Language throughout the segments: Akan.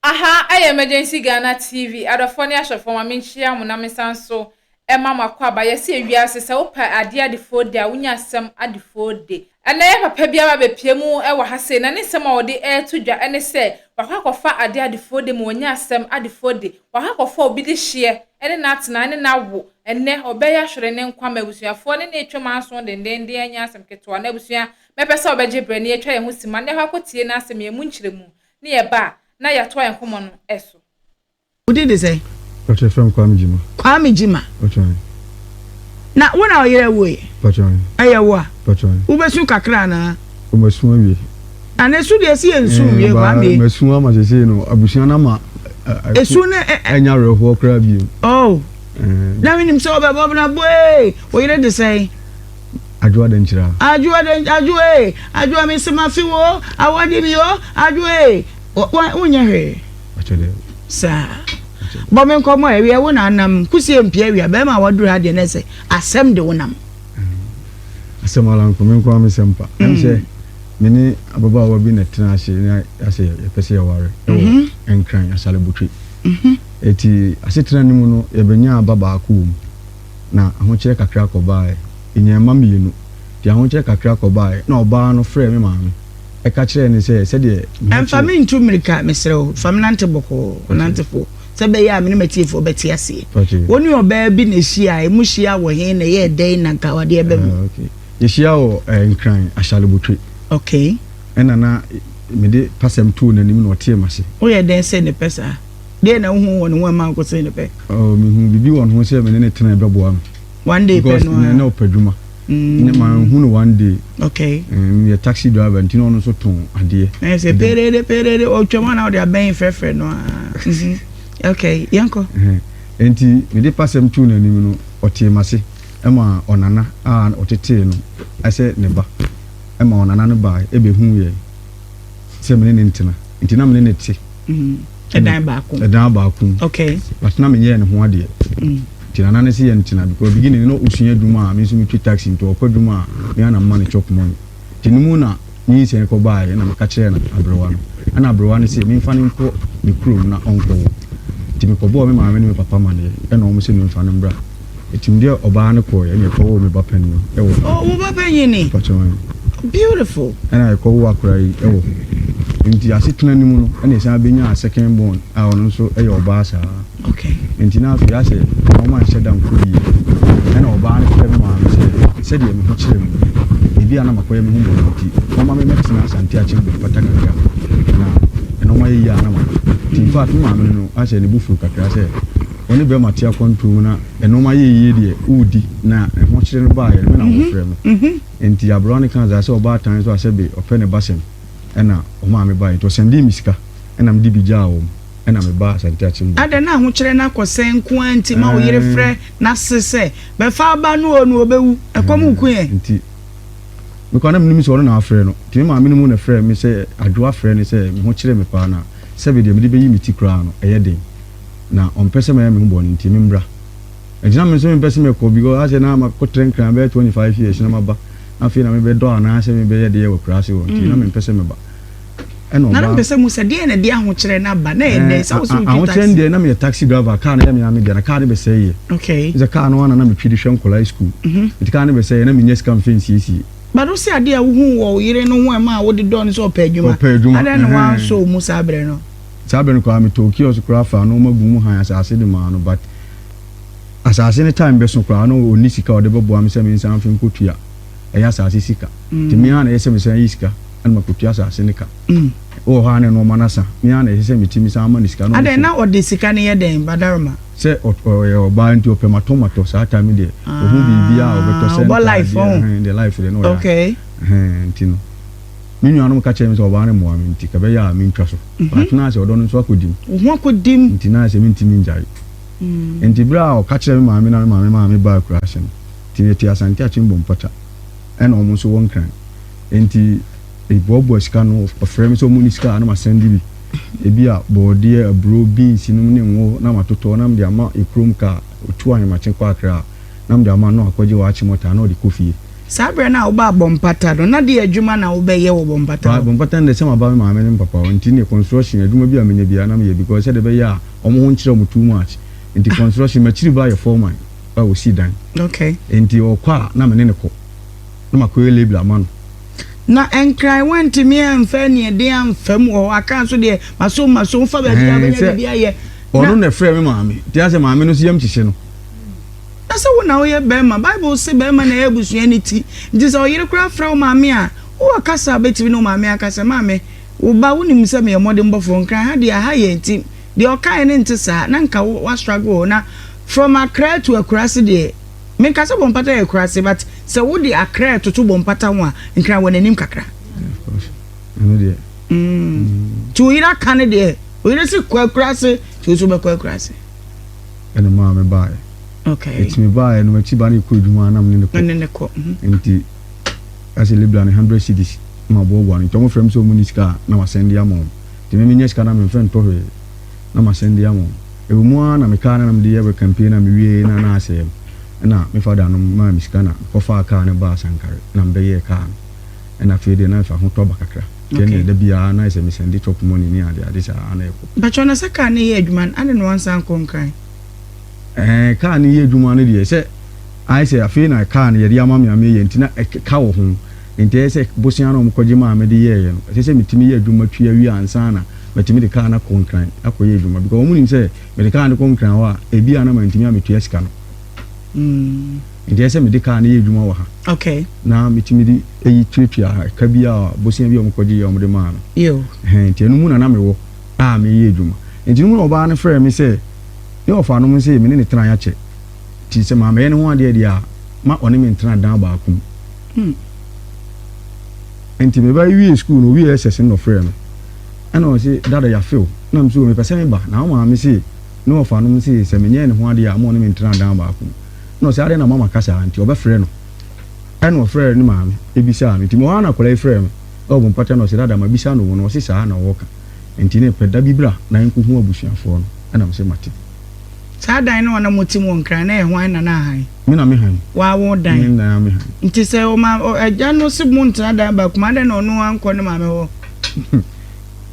Aha yɛ Emergency Ghana TV, adɔfoɔ ne ahwɛfoɔ ma menkyia mo na mensan nso ɛma mo akwaaba. Yɛse ewiase sɛ wo pɛ adeɛ adefoɔ de a wo nya asɛm adefoɔ de. Ɛnɛ yɛ papa bi aba abɛpie mu wɔ ha sei na ne nsɛm a ɔde ɛɛto dwa ɛne sɛ wakɔ akɔfa adeɛ adefoɔ de ma wanya asɛm adefoɔ de. Wakɔ akɔfa obi de hyeɛ ɛne no atena ɛne no awo. Ɛnɛ ɔbɛyɛ ahwere ne nkwa ma abusuafoɔ ne no atwam anso dendenden anyɛ asɛm ketewa na abusua Mɛpɛ sɛ ɔbɛgye berɛ na yɛatwa yɛn ho simma na yɛakɔ akɔtie n'asɛm, yɛn mu nkyerɛmu, na yɛba a, na yɛatoa yɛn nkɔmmɔ no so. Wo din de sɛn? Mpakyɛ yɛfrɛ me Kwame Gyima. Kwame Gyima. Mpakyɛ. Na wo na wo yere woe? Mpakyɛ. Ɛyɛ wo a? Mpakyɛ. Wo bɛ su kakra anaa? O ma su awie. Na ne su deɛ si yɛ nsu nwie Kwame. Ɛɛ ma su ama sɛsɛɛ no abusua na ma ɛsu ne ɛ ɛ nya werɛhoɔ koraa bio. Oh. Ɛɛ. Na menim sɛ ɔbɛ bɔ bena boee wo yere de sɛn? Adwoa dɛn kyerɛ a? Adwoa dɛn Adwoa ee Adwoa me se mafe wo o Awɔde me o Adwoa ee Wonyɛ hwee Akyɛ dɛ saa Bɔ me nkɔmmɔ awia wo na anam Kusie mpia awia Bɛɛma a waduru ha deɛ na ɛsɛ Asɛm de wo nam Asɛm ara nko Me nko ara me sɛm pa Ɛne sɛ me ne ababaawa bi na tena ase Na yɛasɛ yɛpɛ sɛ yɛware Ɛwɔ Nkran Asalebotwe Ɛti asetena no mu no yɛbɛnya aba baako wɔ mu na ahokyerɛ kakra kɔbaeɛ. Yɛnyaa mma mmienu. Deɛ ahokyerɛ kakra kɔbaeɛ na ɔbaa no frɛɛ me maame ka kyerɛɛ no sɛ sɛdeɛ me ho kyere. Mfa me ntu mmirika, mesrɛ wo. Fa me nante bɔkɔɔ, nante fo, sɛ ɛbɛyɛ a me ne m'atiefoɔ bɛte aseɛ. Wo ne ɔbaa bi na ɛhyiaeɛ. Mohyiaa wɔ he, na ɛyɛɛ dɛn na anka wode aba mu? Yɛhyiaa wɔ Nkran, Ashalebotwe. Okay. Ɛnna na mede pasɛm too n'anim na ɔtee m'ase. Woyɛ dɛn sɛ ne pɛ saa? Deɛ na wohu wɔ ne ho ɛma wokɔsɛe no pɛ? Oh, mehu biribi wɔ ne ho sɛ me ne no tena ɛbɛboa me. One day pɛ no a. na ɔpɛ adwuma. Mm. Ne ma hu no one day. Okay. Um, yɛ taxi driver nti na ɔno nso tɔn adeɛ. Na yɛ sɛ pereere pereere ɔtwam a na ɔde abɛn frɛfrɛ no a. Mhm. Okay, yɛnkɔ. Nti mede pasɛm too n'anim no ɔtee m'ase ɛma ɔnana a ɔtetee no ɛsɛ ne ba ɛma ɔnana no baa ɛbɛhu yɛn. sɛ me ne ne ntena nti na me ne ne te ɛdan baako ɛdan baako okay but na menyɛ ne ho adeɛ mm. nti nana ne sɛ yɛ ntena because beginning no ɔsua adwuma a me nso metwi taxi nti ɔkɔ adwuma a me ana mma ne chop money nti no mu na ne nsɛn kɔ baeɛ na meka kyerɛɛ no aberewa no ɛna aberewa no sɛ memfa no nkɔ ne kurom na ɔnkɔwo nti mekɔbɔɔ me maame ne me papa maneɛ ɛna ɔmo sɛ memfa no mbra Ɛtim deɛ ɔbaa no kɔɔɛ ɛna ɛkɔ woo me ba panin no ɛwɔ hɔ. Oh wo ba panin ni? Mpakyɛ wan? Beautiful. Ɛna ɛkɔ woo akora yi ɛwɔ hɔ. Nti asetena no mu no ɛna ɛsan bɛnyaa second born a ɔno nso ɛyɛ ɔbaa saa. Okay. Nti na afei asɛ na wɔn anhyɛ da nkɔ bie. Ɛna ɔbaa no frɛ me maame sɛ sɛdeɛ me ho kyerɛ mu no ebi a na makɔyɛ me ho bɔne nti wɔma me mɛtena Asante akyɛ mu mpata kakra na nnoɔma yɛ yie a na makɔ. Nti in fact me maame no no asɛ ne bo fuu kakra sɛ Wo ne bɛrima te akwantuo mu na nnoɔma yɛ yie deɛ wodi na ɛho kyere no baeɛ no me na mhm, wɔfrɛ me mhm. nti aberewa no kaa dza sɛ ɔbaatan so a sɛ be ɔpɛ ne basɛm ɛna ɔmaa me baeɛ nti ɔsɛndee me sika ɛna mede bi gyaa wɔm ɛna mebaa asante akyembo adɛn na ahokyerɛ no akɔsɛn nko a nti ma wo yere frɛ n'ase sɛ bɛfa aba no o no ɔbɛwu ɛkɔm nko ɛ nti mekɔ na menim sɛ ɔno na afrɛ no nti me maa menom na frɛ me sɛ adwoa frɛ ne sɛ me ho kyerɛ me paa na sɛbe deɛ mede bɛyi me ti koraa no ɛyɛ den na ɔmpɛ sɛ mɛyɛ me ho bɔne nti memmra. Ɛnti na me nso mempɛ sɛ mɛkɔ because asɛ na makɔtra Nkran bɛyɛ 25 years na maba na afei na mebɛdɔ anaasɛ mebɛyɛ deɛ wɔ akuraase hɔ nti na mempɛ sɛ meba. Ɛna ɔbaa. Na mempɛ sɛ mu sɛ deɛ na ɛde ahokyerɛ no aba na ɛyɛ dɛn sɛ wo sɛ wotwi taxi. Ahokyerɛ no deɛ na meyɛ taxi driver kaa no yɛ me ara me dea na kaa no bɛsɛeɛ. Okay. Sɛ kaa no ara na na metwi de hwɛ nkwadaa yi school. Mhm. Nti kaa no bɛsɛeɛ na mennya sika mfa nsiesie. But wo sɛ adeɛ a wohuu wɔ wo yere no ho a ɛmaa wode dɔɔ no sɛ ɔpɛ adwuma. Ɔpɛ adwuma. Adɛn na woansɔ wo mu saa berɛ no? Saa bere no koraa me tɔɔ kiosk koraa faa nɔɔma guu mu hann asase de maa no but asase no time bɛso koraa na ɔnni sika a ɔde bɛboa me sɛ me nsan mfe nkɔtua ɛyɛ asase sika nti me ara na ɛyɛ sɛ me san yi sika ɛna makɔtua asase no ka wɔ hɔ a na nɔɔma no asa me ara na ɛyɛ sɛ me ti me san ma no sika na ɔde na ɔde sika no yɛ dɛn badaroma sɛ ɔyɛ ɔbaa nti ɔpɛ matɔ matɔ saa time deɛ ɔhu biribi a ɔbɛtɔ sɛ ntaadeɛ ɛhɛn deɛ life deɛ na ɔyɛ okay ɛhɛn nti no. Me nuanom ka kyerɛɛ me sɛ ɔbaa no mmoa me nti ka ɛbɛyɛ a mentwa so. But na ayɛ sɛ ɔdɔ no nso akɔdi mu. Wo ho akɔdi mu. Nti na ayɛ sɛ mentumi ngyae. Nti berɛ a ɔka kyerɛɛ me maame na me maame maa me baa akuraase no, nti na ɛte Asante Akyem Bompɔta. Ɛna wɔn nso wɔ Nkran. Nti meboaboa sika no, ɔfrɛ me sɛ wɔnni sika a na masɛnde bi. Ebi a bɔɔdeɛ, aburo, beans nom ne ngo na matotɔ na mede ama yɛ kurom kaa, ɔtu Ahemakye kɔ Akra a, na mede ama no na wakɔgye wɔ Akyem ɔtaa na ɔde kɔ fie. Saa berɛ no a wobaa Bɔ Mpata no, na deɛ adwuma na wobɛyɛ wɔ Bɔ Mpata hɔ? Bɔ Mpata no deɛ sɛ maba me maame ne me papa hɔ nti ne construction adwuma bi a menya biara na meyɛ because sɛdeɛ ɛbɛyɛ a wɔn ho nkyerɛ wɔn too much nti construction m'akyiri ba yɛ foreman a ɔsi dan okay nti ɔkɔ a na me ne ne kɔ na makɔyɛ label ama no na nkran wantumi amfa aniɛden amfa mu wɔ hɔ aka nso deɛ masom masom fa baabi a wobɛnya biribi ayɛ ɔno na ɛfrɛ me maame nti asɛ maame no so yam kyekye no Na sɛ wo na woyɛ barima, Bible se barima na ɛyɛ abusua no ti. Nti sɛ ɔyere koraa frɛ wo maame a, wowɔ kasa a wobɛtumi ne wo maame aka sɛ, Maame, wo ba, wonim sɛ meyɛ mmɔdenbɔfoɔ, Nkran ha deɛ, aha yɛ atim. Deɛ ɔkaeɛ no nte saa, na nka wa struggle o. Na from Accra to Akurase deɛ, menka sɛ Bompata yɛ Akurase, but sɛ wode Accra toto Bompata ho a, Nkran wɔ n'anim kakra. Nti wo yere aka no deɛ, wo yere se kɔ Akurase, nti wo nso wobɛkɔ Akurase. ɛna maa me baeɛ okay. ɛti me baeɛ no makyi ba no ɛkɔ adwuma ara na mene ne kɔ ne ne kɔ mhm. nti ɛsɛ libra ne 100 cities ma boaboa no nti ɔmo frɛ m sɛ ɔmo ne sika a na masɛn de ama ɔmo nti me menyɛ sika na memfɛ ntɔ hwee na masɛn de ama ɔmo ɛwɔ mu ara na mekaa na na mede yɛ campaign na mewie na na asɛɛ m ɛna me fada no maa me sika na mekɔfaa kaa no baa sankare na mebɛyɛɛ kaa no ɛna afei deɛ na mefa ho tɔ ba kakra Then Okay. da bi ara na ayɛ sɛ me sɛnde chop money ne ade ade saa na ɛkɔ. Mpakyɛw na sɛ car no yɛ adwuma no adɛn na wansan ankɔ Nkran? Ɛɛ car no yɛ adwuma no deɛ sɛ ayɛ sɛ afei na car no yɛde ama me a meyɛ nti na ɛk ka wɔ ho nti ɛyɛ sɛ bosea no a wɔkɔgye maa me de yɛɛyɛ no ɛsɛ sɛ metumi yɛ adwuma tua wie ansa na matumi de car no akɔ Nkran akɔyɛ adwuma because wɔn nim sɛ mede car no kɔ Nkran hɔ a ebia na mantumi ametua sika no. Mm. Enti ɛyɛ sɛ mede kaa no yɛ adwuma wɔ ha. Okay. Na metumi de eyi tuatua ɛka bi a bosea bi a wɔkɔgye yɛ wɔde maa no. Yo. Ɛhɛn, nti ɛno mu na na mewɔ a meyɛ adwuma. Nti no mu na ɔbaa no frɛɛ me sɛ ne ɔfa no mu sɛ me ne ne tena yɛakyɛ. Nti sɛ mammɛyɛ ne ho adeɛ deɛ a, ma ɔne me ntena dan baako mu. Hmm. Nti meba wiee sukuu no, owiee SS no na ɔfrɛɛ me. Ɛna ɔse, Dada yɛafe wo. Na me so, mepɛ sɛ meba. Na wo maame se ne ɔfa no mu se sɛ menyɛɛ ne ho adeɛ a, ma ɔne me ntena dan baako mu. na ɔse adɛn na mama ka saa nti ɔbɛfrɛ no ɛna ɔfrɛɛ ne maame ɛbisaa no nti mewɔ ha na akwadaa yi frɛɛ me ɛwɔ bɔ mpata na ɔse dada mabisa no wo no ɔse saa na ɔɔka nti ne pɛ da bi bra na yɛnkɔ hu abusuafoɔ no ɛna mese mate. Saa dan no a na mote mu wɔ Nkran no ɛyɛ hwan na na han? Me na me han. Waa wo dan? Me na me han. Nti sɛ ɔma agya no se mo ntena dan baako mu adɛn na ɔno ankɔ ne maame hɔ?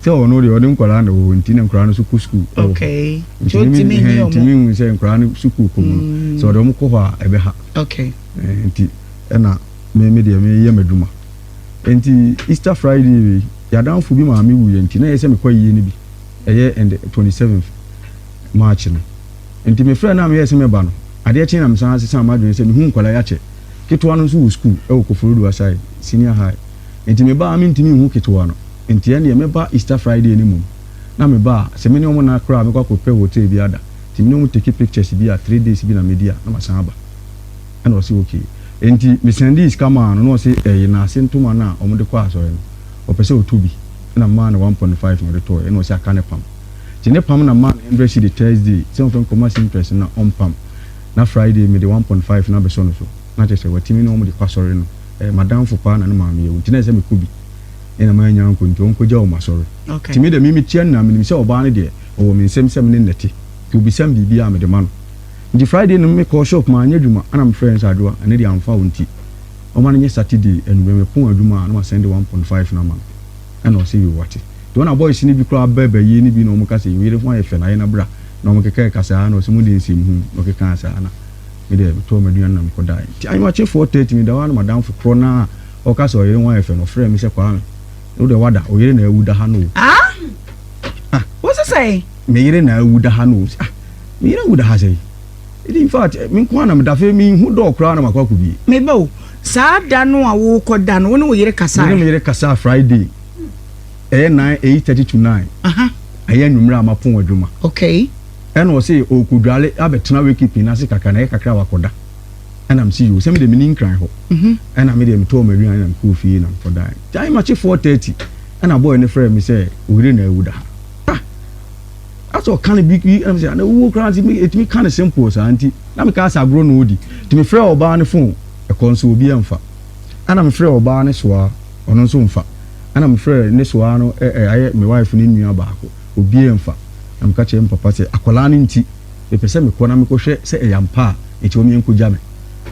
sɛ ɔno deɛ ɔde nkwadaa na wɔwɔ nti na nkwadaa no nso kɔ sukuu ɛwɔ hɔ ntumi hɛn ntumi hu sɛ nkwadaa no sukuu kɔ mu no mm. sɛ ɔde wɔn kɔ hɔ a ɛbɛ ha eh, nti ɛna me me deɛ me yɛ m'adwuma nti Easter Friday wei yadanfo bi maame wu yɛ nti na yɛ sɛ mekɔ yie no bi ɛyɛ and twenty seventh March no nti me frɛ na meyɛ sɛ mɛba no adeɛ kyen na mesan ase san m'adwene sɛ mehu nkwadaa yɛakyɛ ketewa no nso wɔ sukuu ɛwɔ Koforidua side senior high. Enti me ba a mentumi nhu ketewa no, enti ɛnneɛ mɛba Easter Friday no mmom. Na me ba a, sɛ me ne wɔn nna koraa a, mɛkɔ akɔpɛ hotel bi ada. Enti me ne wɔn take pictures bi a three days bi na medi a, na masan aba. Ɛnna ɔse okay. Enti me sɛndee sika maa no, na ɔse ɛyɛ n'ase ntoma no a wɔde kɔ asɔre no, ɔpɛ sɛ ɔtɔ bi. Ɛnna memaa no one point five na ɔde tɔeɛ, ɛnna ɔse aka ne pam. Enti ne pam na memaa no hundred cedi Thursday sɛ ɔmfa nkɔma seamstress no na ɔmpam, na Friday mede one point five no abɛsɔ no so. na kyerɛ sɛ watumi ne wɔn de kɔ asɔre no. Ɛyɛ m'adamfo paa na ne maame yɛ wo nti na ɛsɛ sɛ mekɔ bi. Ɛna mannya ankɔ nti ɔnkɔgya wɔn asɔre. Okay. Nti me deɛ memetua no na menim sɛ ɔbaa no deɛ ɔwɔ me nsam sɛ me ne no te. Nti obisa me biribi a mede ma no. Nti Friday no mekɔɔ shop manyɛ adwuma ɛna mefrɛɛ no sɛ Adwoa ɛnɛ deɛ amfa wo nti ɔma no nyɛ Saturday anwummerɛ mepɔn adwuma a na masɛnde one point five no ama no. Ɛna ɔse yoo wate. Nti wɔn a boys no bi koraa ba bayie no bi na wɔka sɛ wo yere ho ayɛ fɛ na yɛn na bra na wɔkeka ɛkasaa na ɔse mo deɛ nsɛmhunu na ɔkekaa saa na Me deɛ, metɔɔ m'aduane na mekɔ daeɛ. Nti anwumma kye four thirty meda hɔ ara na m'adamfo korɔ no a ɔka sɛ ɔyere ho ayɛ fɛ no frɛɛ me sɛ, Kwame, wo deɛ woada, wo yere na awu da ha no o. Ah! Ah! Wo se sɛn? Me yere na awu da ha no o. Ɔse, Ah! Me yere awu da ha sɛn? Ɛdi in fact, me nko ara na meda, afei menhu door koraa na makɔ akɔbie. Me ba o, saa da no a worekɔ da no, wo ne wo yere kasaeɛ? Me ne me yere kasaa Friday, ɛyɛ nine, eight thirty to nine. Aha. Ɛyɛ anwummerɛ a mapɔn adwuma. Okay. Ɛna ɔse ɔɔkɔdware abɛtena wake pin ase kakra na ɛyɛ kakra a wakɔda. Ɛna mese yoo sɛ medeɛ menni nkran hɔ. Ɛna medeɛ metɔɔ m'aduane na mekɔɔ fie na mekɔdaeɛ. Time akye four thirty ɛna boy no frɛɛ me sɛ oyere na awu da ha. Ah! Asɛ ɔka no bi bi ɛna mese na owuo koraa nti me ɛtumi ka no simple saa nti na meka asɛ agorɔ na ɔɔdi. Nti mefrɛɛ ɔbaa no phone ɛkɔɔ nso obi ɛmfa. Ɛna mefrɛɛ ɔbaa no soaa ɔno nso mfa. Ɛna mefrɛɛ ne soaa no ɛ ɛ ayɛ me wife no nua baako. obiara mfa, na meka kyerɛɛ me papa sɛ, Akwadaa no nti, mepɛ sɛ mekɔ na mekɔhwɛ sɛ ɛyɛ ampa a, enti wɔn nkɔgya me.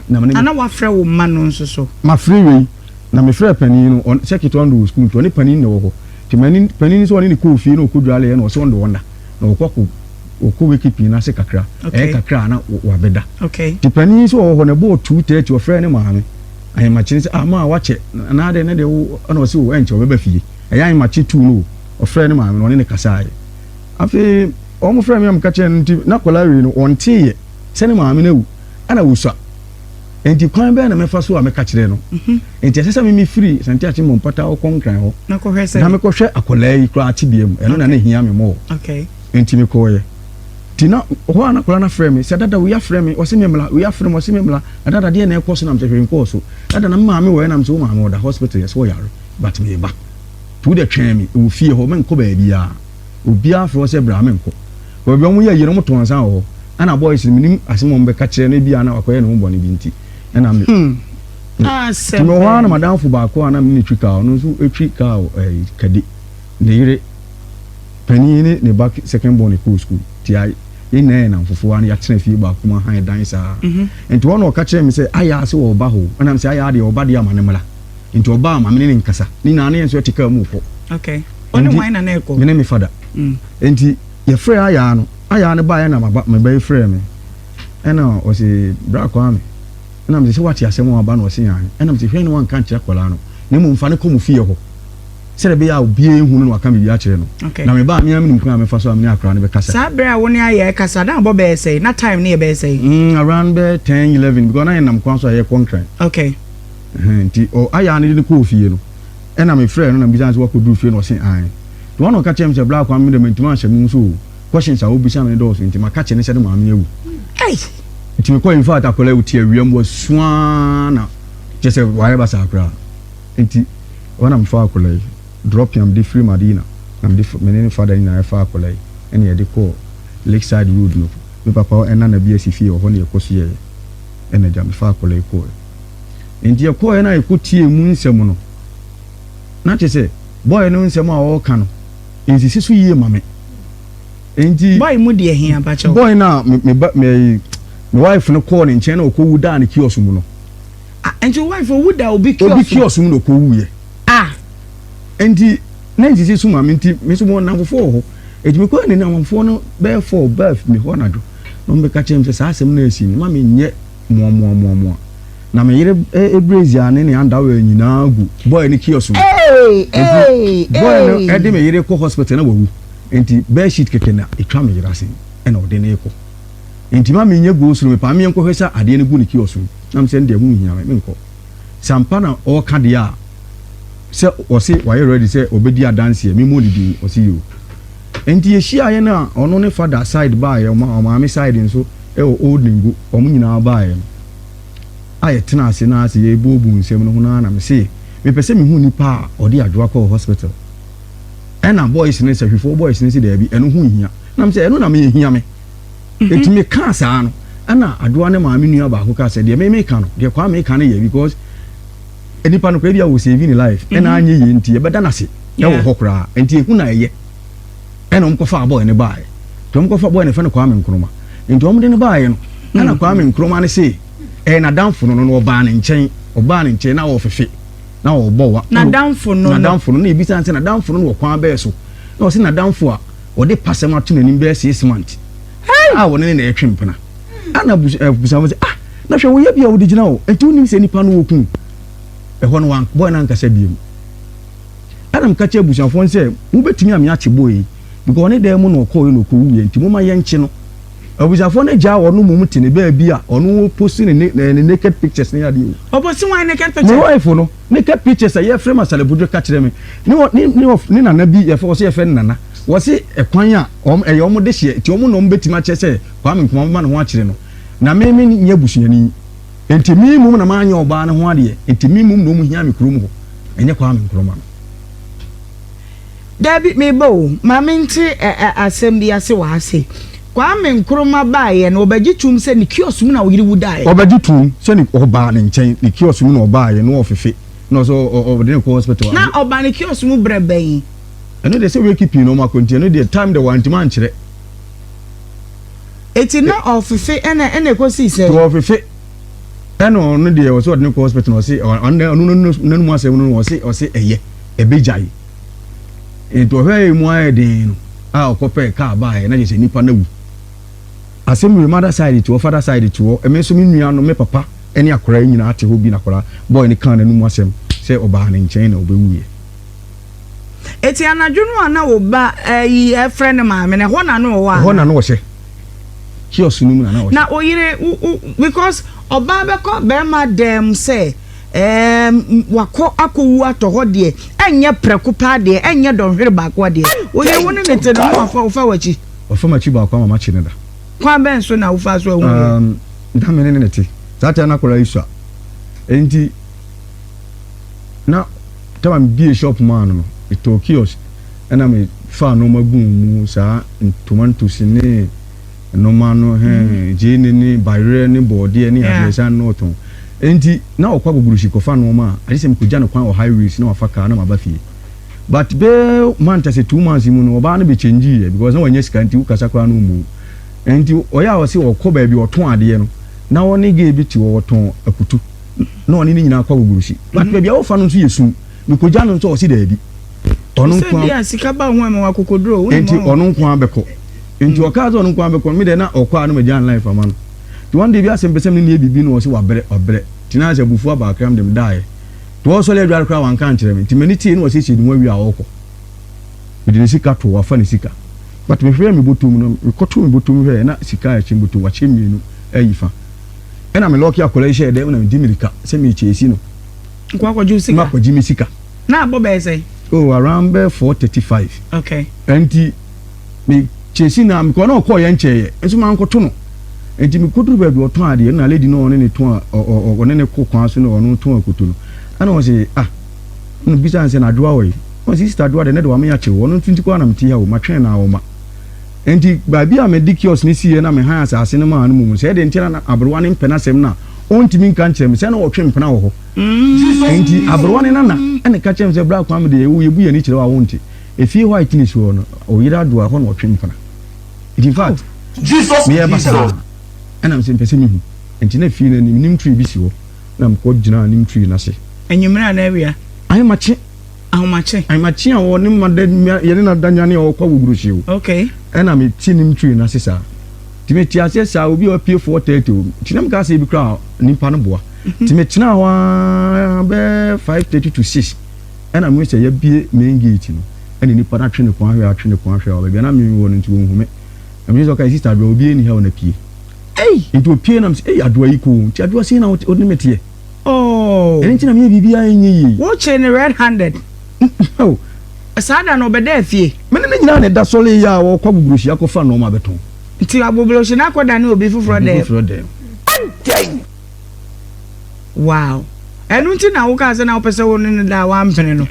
Na me ne me. Ana woafrɛ wo mma no nso so? Mafrɛ wei, na mefrɛɛ panin no, ɔn, sɛ ketewa no de wɔ sukuu nti, ɔne panin na ɛwɔ hɔ. Enti mani, panin no sɛ ɔne no kɔɔ fie na ɔkɔdwaleeɛ na ɔse ɔnde wɔn nna, na wɔkɔ akɔ, wɔkɔ wɛkipin no ase kakra, ɛyɛ Okay. kakra a na wɔ, wɔabɛda. Okay. Enti panin yi nso ɔwɔ hɔ, na ɛbɔɔ two thirty, ɔfrɛɛ ne maame, ahemakye no sɛ, Ah, maa, woakyɛ, anaa dɛn, na deɛ wo, ɛna ɔse, Oh, ɛnkyɛ, ɔbɛba fie. Ɛyɛ ahemakye two no o, ɔfrɛɛ ne maame na ɔne no kasaeɛ. Afei wɔn frɛɛ me na meka kyerɛɛ no nti na akwadaa wei no ɔnteeɛ sɛ ne maame no awu ɛna ɔsua. Nti kwan bɛn na mɛfa so a mɛka kyerɛ no? Mhm. Nti ɛsɛ sɛ meme firi Santi Akyemmɔ mpata hɔ kɔ Nkran hɔ na mekɔhwɛ akwadaa yi koraa tebea mu. Ɛno na na ɛhia me mɔɔ. Nti mekɔɔeɛ. Nti na hɔ a na akwadaa no afrɛ me sɛ dada wei afrɛ me ɔse me mmra, wei afrɛ me ɔse me mmra. Na dada deɛ na ɛkɔ so nam sɛ hwee nkɔɔ so. Dada na me maame wɔeɛ nam sɛ wo maame ɔda hospital yɛse ɔyare but meba. Wo dɛ twɛn me wɔ fie hɔ, mennkɔ baabiaa. Obiaa frɛ wo sɛ bra a, mennkɔ. Baabi a ɔmo yɛ yerenom tɔn nsa wɔ hɔ, ɛna boys no mennim asɛm a ɔmo bɛka kyerɛ no, ebia na wakɔyɛ ne ho bɔne bi nti na me Nti mewɔ hɔ ara na m'adamfo baako a na mene no twi kaa, ɔno nso twi kaa wɔ ɛɛ Kadi. Ne yere panin ne ne ba second born kɔɔ sukuu. Nti I, yɛn nyinaa yɛ nnamfofoɔ a na yɛatena fie baako mu ahan dan saa. Nti hɔ na ɔka kyerɛɛ me sɛ, Ayaa se wɔɔba hɔ o. Ɛna mese, Ayaa deɛ ɔɔba deɛ a ma no mmra. nti ɔbaa ma me ne ne nkasa ne nyinaa ne yɛn nso yɛte kaa mu rekɔ okay ɔne hwan na na ɛkɔ me ne me fada mm. nti yɛfrɛ ayaa no ayaa no baeɛ na meba yi frɛ me ɛna ɔse bra kwaa me ɛna mese sɛ wate asɛm a aba na ɔse yan ɛna mese hwɛ ne wanka nkyerɛ akwadaa no na mmom fa ne kɔ mu fie hɔ sɛdeɛ ɛbɛyɛ a obiara ehu no na waka biribi akyerɛ no na me baa mmea mi nim kwan a mefa so a me ne akora no bɛkasa. saa bere a wo ne ayɛ kasa na abɔ bɛyɛ sɛn na time ne yɛ bɛyɛ sɛn. Mm, around bɛ ten eleven because na yɛ nam kwan so a yɛ kɔ nkran. okay. Ɛhɛn, ntsi ɔayɛ a ne de no kɔɔ fie no, nna mefrɛɛ no na mibisaa no sɛ ɔakodur fie na ɔse aane. Ntsi ɔana ɔka kyerɛɛ me sɛ bra kwa me dɛ menntum annhyɛ mo mu so o, questions a obisa me no dɔɔso ntsi maka kyerɛ no sɛ no maame ewu. Ei! Ntsi mekɔe, infact akɔlaa yi ɔtse awia mu asu aa na kyerɛsɛ ɔayɛ basaa koraa. Ntsi ɔana mefaa akɔlaa yi, drop a mede fir Madina na mede fa, mene ne father nyina yɛfaa akɔlaa yi na yɛde kɔɔ Lakeside road no, me papa ɔana na bi esi fie hɔ na yɛkɔsoɛɛ, nna gya mefaa akɔlaa yi kɔɔe. Enti yɛkɔeɛ na yɛkɔtiee mu nsɛm no. Na kyerɛ sɛ, bɔeɛ no nsɛm a ɔreka no, ɛnsisi so yie ma me. Enti. Bɔe mu deɛ he aba kyɛw? Bɔe no a me, me ba, me, me wife no kɔɔ ne nkyɛn na ɔkɔwu daa ne kiosk mu no. Ah, enti wo wife owu da obi kiosk mu? Obi kiosk mu na ɔkɔwuiɛ. Ah! Enti, na ɛnsisi so ma me, nti me nso mewɔ nnamfofoɔ wɔ hɔ. Enti mekɔɔ ne nnamfoɔ no bɛyɛ four, baa fi me hɔ anadwo, na wɔbɛka kyerɛɛ me sɛ saa asɛm no a asi no, mma menyɛ. moamoamoamoa. Na me yere eh, Brazia ne ne underwear nyinaa gu boy ne kiosk mu. Nti boy no ɛde me yere kɔ hospital na wawu. Nti bed sheet kɛkɛ na ɛtwa me yere ase ɛna ɔde no rekɔ. Nti ma me nyɛ go-slow, mepaa me yɛnkɔ hwɛ sɛ adeɛ no gu ne kiosk mu. Na me sɛ ɛndeɛ ɛho nhia me, menkɔ. Sɛ ampa na ɔreka deɛ a, sɛ ɔse wayɛ ready sɛ ɔbɛdi adanseɛ, memmɔ ne din, ɔse yoo. Nti yehyiaeɛ no a ɔno ne father side baeɛ ɔma ɔmaame side nso ɛwɔ old nengo ɔmo nyinaa baeɛ no a yɛtena ase naa se yɛɛbuobu nsɛm no ho naa na mesee mepɛ sɛ mehu nipa a ɔde adwoa kɔɔ hospital ɛna boys no sahwifoɔ boys no se daabi ɛno ho nhia nam sɛ ɛno na me ehia me nti me kaa saa no ɛna adwoa ne maame nua baako kaa sɛ deɛ me meka no deɛ kwaa meka no yɛ because nipa no kora bi a wɔ save ne life ɛna mhm. anyɛ yie nti yɛbɛda no ase ɛwɔ hɔ koraa nti ehu na ɛyɛ ɛna wɔn kɔfa abɔɛ ne baayɛ nti wɔn kɔfa abɔɛ ne fɛ no Kwame Nkrumah nti wɔn de ne baayɛ no ɛna mhm. Kwame Nkrumah ne se ɛyɛ n'adanfo no no ɔbaa ne nkyɛn ɔbaa ne nkyɛn na ɔfefe na ɔbɔ wa n'adanfo no n'adanfo no na ebi san sɛ n'adanfo no wɔ kwan bɛɛ so na ɔsi n'adanfo a ɔde pasɛm ato n'anim bɛɛ six months a wɔne ne na ɛtwe mpena ɛna busa eh, busa wɔn sɛ ah Na hwɛ, woyɛ bia wode gyina hɔ, nti wonim sɛ nipa no wɔkuu ɛhɔ no wan boy no ankasa biom. Ɛna meka kyerɛ abusuafoɔ no sɛ, mobɛtumi ame akye boy yi, because ɔne dan mu na ɔkɔɔeɛ na ɔkɔwuiɛ, nti momma yɛnkye no. Abusuafoɔ no gyaa ɔno mmom te ne baabi a ɔno post ne ne ne naked pictures ne adeɛ o. Ɔpost wan naked pictures? Me wife no naked pictures a yɛfrɛ me Asalebodwo ka kyerɛ me, ne ɔ ne ne ɔf ne nana bi yɛfrɛ ɔse yɛfrɛ no Nana, wɔse ɛkwan a wɔn ɛyɛ wɔn dehyeɛ, nti wɔn na wɔbɛtumi akyerɛ sɛ Kwame Nkrumah, momma ne ho akyere no. Na me me nyɛ busuani nti me mmom na manyɛ ɔbaa no ho adeɛ nti me mmom na ɔmu hia me kurom hɔ ɛnyɛ Kwame Nkrumah no. Dabi meba o ma me nte asɛm bi ase wɔ ha sei Kwame Nkrumah baeɛ no ɔbɛgye tom sɛ ne kiosk mu na wo yere wu daeɛ. Ɔbɛgye tom sɛ ne ɔbaa ne nkyɛn ne kiosk mu na ɔbaeɛ na ɔfefe na ɔsɛ ɔde ne kɔ hospital. Na ɔba ne kiosk mu berɛ bɛn? Ɛno deɛ sɛ wake pii na ɔmo akɔ nti ɛno deɛ time deɛ wantumi ankyerɛ. Eti na ɔfefe ɛna ɛna ekosi sɛ. Ti ɔfefe ɛna ɔno deɛ ɔsi ɔde ne kɔ hospital na ɔsi ɔno ɔno n'anum asɛm no ɔsi ɔsi ɛyɛ ɛbɛ gya yi nti ɔhwɛ yɛ mu ayɛ den no a ɔkɔ pɛ kaa baa yɛ na yɛ sɛ nipa na wu asɛm yɛ mother side tiwɔ father side tiwɔ ɛmɛ nso mi nua no mi papa ɛne akora nyinaa te hɔ bi na akora bɔɔl ne kan n'anum asɛm sɛ ɔbaa ne nkyɛn na ɔbɛ wu yɛ. Eti anadwo no a na wo ba ayi ɛfrɛ ne maame no, ɛhɔ na na ɔwɔ ana? Ɛhɔ na na ɔhyɛ. Kiosk no mu na na ɔhyɛ. Na oyere wo wo because ɔbaa bɛkɔ bɛrima dan mu sɛ ɛɛm wakɔ akɔwu atɔ hɔ deɛ ɛnyɛ prɛko paa deɛ ɛnyɛ dɔnhwere baako adeɛ. Oyere wo ne ne te no na wafa ɔfa w'akyi. Wafa m'akyi baako ama makye no da. Kwan bɛn so na wofaa so ahu yɛ? Um, na me ne ne te. Saa time no akwadaa yi sua. Enti na tama me bie shop maa no no me tɔɔ kiosk ɛna me faa nnoɔma gu mu saa ntoma ntosi ne nnoɔma no hɛn mm. gyeene ne bayerɛ ne bɔɔdeɛ ne adeɛ saa na ɔtɔn nti na ɔkɔ agogorusi kɔfa nnoɔma a agye sɛ mekɔgya no kwan wɔ highways na wafa kaa na maba fie but bɛɛ month sɛ two months mu no ɔbaa no bɛ change yɛ because na wɔnyɛ sika nti wokasa koraa no mu nti ɔyɛ a ɔse ɔkɔ baabi ɔtɔn adeɛ no na ɔne gay bi te hɔ wɔtɔn akutu na ɔne ne nyinaa kɔ agogorusi but mhm. baabi a wɔfa no nso yɛ sum mekogya no nso ɔse daabi ɔno nkoa sika ba ho ɛma wakokoduro wo nti ɔno nkoa bɛkɔ nti mhm. ɔkaa sɛ ɔno nkoa bɛkɔ no medɛ na ɔkɔ a no magya nline fama no nti one day bi asɛm pɛ sɛ me ne yɛ biribi no ɔse wabrɛ wabrɛ nti na sɛ abufuo abaakram dem daeɛ nti wɔsɔre adware koraa wanka nkyerɛ me nti m'ani tee na wɔsiesie ne ho awie a ɔkɔ mede ne sika to wafa ne sika but mehwɛ mebɔtɔ mu no mekɔto mebɔtɔ mu hwɛ na sika a ɛkyɛ mebɔtɔ wakyɛ mmienu ayi fa ɛna me lɔki akwadaa yi hyɛɛ dɛm na medi mirika sɛ merekyɛɛsi no nkɔ akɔgye sika makɔgye me sika na abɔ bɛyɛ sɛ oh around bɛyɛ four thirty five okay ɛnti me kyɛɛsi na mekɔ na ɔkɔɔ yɛ nkyɛɛyɛ nso mankɔto no ɛnti mekɔduru baabi ɔtɔn adeɛ na lady no ɔne ne tɔn ɔne ne kɔ kwan so na ɔno tɔn akoto no ɛna ɔse ah ɛna bisa nsɛ na adoa ɔye ɔse sista adoa dɛ ne de wame akyew ɔno nso nti kɔ anam ti ha o matwɛn na ɔma Enti baabi a mede kiosk no siiɛ na mehan asase no maa no mmom. Sɛ ɛdɛn nti ara na aberewa no mpɛ n'asɛm no a, ɔntumi nka nkyerɛ me sɛ na ɔretwe mpena wɔ hɔ. Enti aberewa no nana na ɛka kyerɛɛ me sɛ, Bra Kwame deɛ yɛwɔ yɛbu yɛn ani kyerɛ wo a wonte. Efie hɔ a ɛtene soɔ no, ɔyere adoa ɛhɔ na ɔtwe mpena. Enti in fact, meyɛɛ basaa ɛnam sɛ mepɛ sɛ mehu. Enti na fie no anim, neem tree bi si hɔ na mekɔ gyinaa neem tree no ase. Anwummere anaa awia? Ahe makye Ahomakye. Amakye a ɔwɔ ne mma da nwa yɛne na da nwa ne ɔɔkɔ awo buruhyi o. Okay. Ɛna me te ne ntwiri no ase saa. Nti me te aseɛ saa obi a wapue 4:30 o. Nti na me kaa sɛ ebi koraa nipa no boa. Nti mhm. me tenaa hɔ aa bɛɛ 5:30 to 6. Ɛna me hu sɛ yabie main gate no. Ɛna nipa no atwe ne kɔn ahwɛ atwe ne kɔn ahwɛ ɔbɛ bia na me wɔ no nti wɔn hu me. Na me sɛ ɔka sister adoa obi ɛni ha ɔna pie. Ei. Nti opie na me sɛ ei adoa yi ko nti adoa sɛ na ɔne me teɛ. Oh. Ɛno nti na meyɛ biribiara ɛnyɛ yie. Wokyee no red handed. Oh. Saa da no ɔbɛdaa fie. Me ne no nyinaa na ɛda sɔre yɛ a ɔkɔ agbogbrohyi akɔfa nnoɔma abɛtɔn. Nti agbogbrohyi no akɔdane obi foforɔ dɛm. Obi foforɔ dɛm. Adɛn! Wow. Ɛno nti na wokaa sɛ na wopɛ sɛ wo ne no daa wampene no.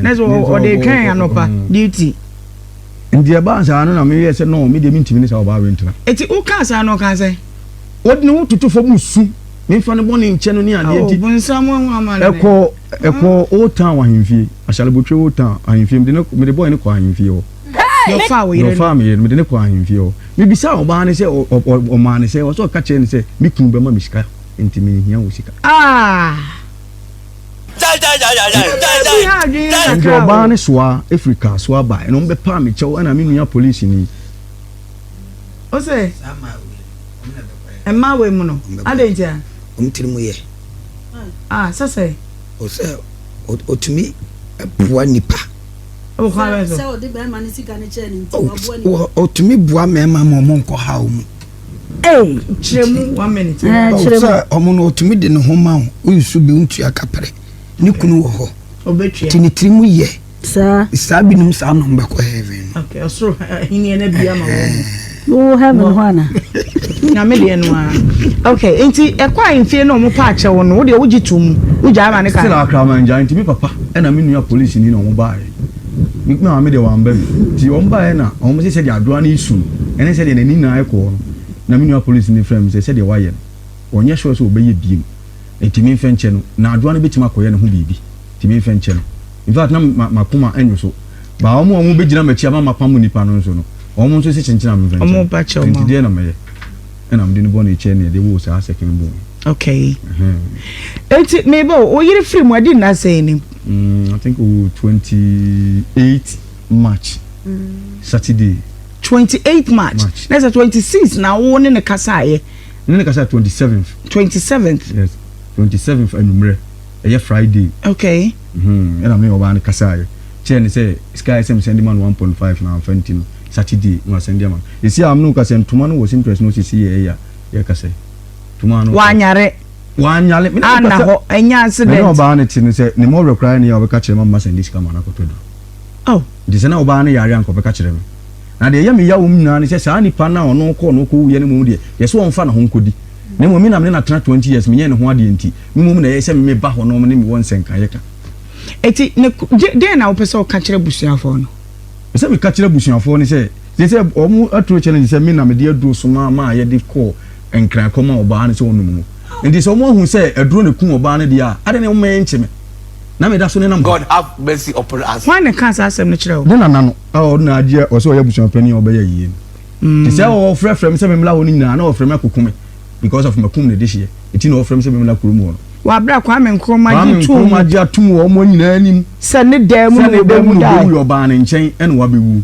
Na sɛ ɔde retwɛn anɔpa duty. Nti ɛbaa saa no na meyɛɛ sɛ no me deɛ mentumi ne saa ɔbaa wei ntena. Nti wokaa saa no ɔkaa sɛ? Ɔde ne ho toto fam resu. Memfa no bɔne nkyɛ no ne adeɛ nti. Ɛkɔɔ ɛkɔɔ Old Town ahemfie. Ashalebotwe Old Town ahemfie. Mede no mede bɔe no kɔɔ ahemfie hɔ. Na ɔfaa wo yere no. Na ɔfaa me yere no. Mede no kɔɔ ahemfie hɔ. Mebisaa ɔbaa no sɛ ɔ ɔ ɔmaa no sɛ ɔsɛ ɔka kyerɛ no sɛ me kunu bɛma me sika nti menhia wo sika. Ah! Ɛnde ɔbaa no soaa firi car so aba. Ɛnna wɔbɛpaa me kyɛw ɛnna me nua polisini. Ɔsɛ. Mma wɔ mu no. Adɛn nti a? Wɔn tiri mu yɛ. A, sɛ sɛ. O sɛ ɔtumi boa nipa. Wɔ kwan bɛn so? Sɛ ɔde bɛrima ne sika no kyɛɛ ne nti, waboa nipa. Ɔtumi boa mmarima ma wɔn nkɔ haw mu. Ei, kyerɛ mu one minute. Ɛɛ, kyerɛ mu. Sɛ ɔmo no ɔtumi de ne ho ma wo, wonsu bi, wontua kapere. Ne kunu wɔ hɔ. Ɔbɛtua. Ti ne tiri mu yɛ. Saa. Saa binom saa nom bɛkɔ heaven. Okay, ɔsoro ahenni na bi ama wɔn. Wo heaven hɔ ana? Na me deɛ no a. Okay, nti ɛkɔ a mfie na wɔn pa akyɛ wɔn no, wo deɛ wogye to mu, wogya ama ne ka. Still akra man gya, nti me papa ɛna me nua polisi ni na wɔn baa yɛ. Me maame deɛ wɔn ba bi, nti wɔn baa yɛ na wɔn sɛ sɛdeɛ adoa no esu no, ɛne sɛdeɛ n'ani nyinaa ɛkɔɔ no, na me nua polisi ni frɛ me sɛ sɛdeɛ wayɛ no, ɔnyɛ sure sɛ ɔbɛyɛ biem, nti me nfɛ nkyɛ no, na adoa no bɛtumi akɔyɛ ne ho biribi, nti me nfɛ nkyɛ no. In fact, na m'akoma nnwo so. Baa wɔn a wɔbɛgyina m'akyi ama mapam nnipa no nso no, wɔn nso sɛ kyenkyena me mfa nkyɛn. Nti deɛ na mɛyɛ? Ɛna mede ne bɔne kyɛ nea de woo saa second born. Okay. Eti meba o, wo yere firi mu adi nna sɛn ni? Mm, I think o 28 March, mm. Saturday. 28 March. March. Na sɛ 26 na wo ne ne kasaeɛ. Ne ne kasaeɛ 27th. 27th. Yes, 27th anwummerɛ. ɛyɛ Friday. Okay. Mm-hmm. Ɛna me ɔbaa no kasaeɛ kyerɛ ne sɛ sika a ɛsɛ me sɛnde ma no 1.5 na amfa nti no Saturday na wasɛnde ama no. Ɛsi a amene wo ka sɛ ntoma no wɔ Simpress no sisi yɛ ɛyɛ a yɛka sɛ ntoma no. Wanyare. Wanyare. Me na na hɔ ɛnyɛ accident. Me na ɔbaa no te no sɛ ne mɔwerɛ koraa ne yɛ a ɔbɛka kyerɛ ma mma sɛnde sika ma no akɔtɔ du. Oh. Nti sɛ na ɔbaa no yare anka ɔbɛka kyerɛ me. Na deɛ ɛyɛ me ya wɔm nyinaa ne sɛ saa nipa no a ɔno kɔɔ no kɔwuiɛ no mmom deɛ yɛ sɛ ɔmfa ne ho nkɔdi. Na mmom me na me ne no atena 20 years menyɛ ne ho adeɛ nti Mmom na ɛyɛ sɛ me ba hɔnom ne me wɔ nsɛnkaeɛ ka. Enti ne ko, de, deɛn na wopɛ sɛ woka kyerɛ abusuafoɔ no? Sɛ meka kyerɛ abusuafoɔ no sɛ, gye sɛ wɔn aturo kyerɛ no sɛ me na mede aduro somaa maa yɛde kɔɔ Nkran kɔmaa ɔbaa no sɛ ɔnnom no. Enti sɛ wɔn ahu sɛ aduro na ɛkum ɔbaa no deɛ a, adɛn na wɔmma yɛnkye me, na meda so nenam ha? Hwan na ɛkaa saa asɛm no kyerɛɛ wo? Ne nana no, a ɔno na agye ɔsɛ ɔyɛ abusuapanin a ɔbɛyɛ yei no. Enti sɛ wɔfrɛfrɛ me sɛ memmra hɔ no nyinaa, na wɔfrɛ me akɔku me. because of makum ne dehyeɛ ɛti na wɔfrɛ me sɛ memmra kurom hɔ no wɔ aberɛ a Kwame Nkrumah Kwame gye too mu Nkrumah gye atom wɔ wɔn nyinaa anim sɛ ne dan mu sɛ na ne dan mu wɔbɛwu na dae. ɔbɛwu yɛ ɔbaa ne nkyɛn ɛna wabɛwu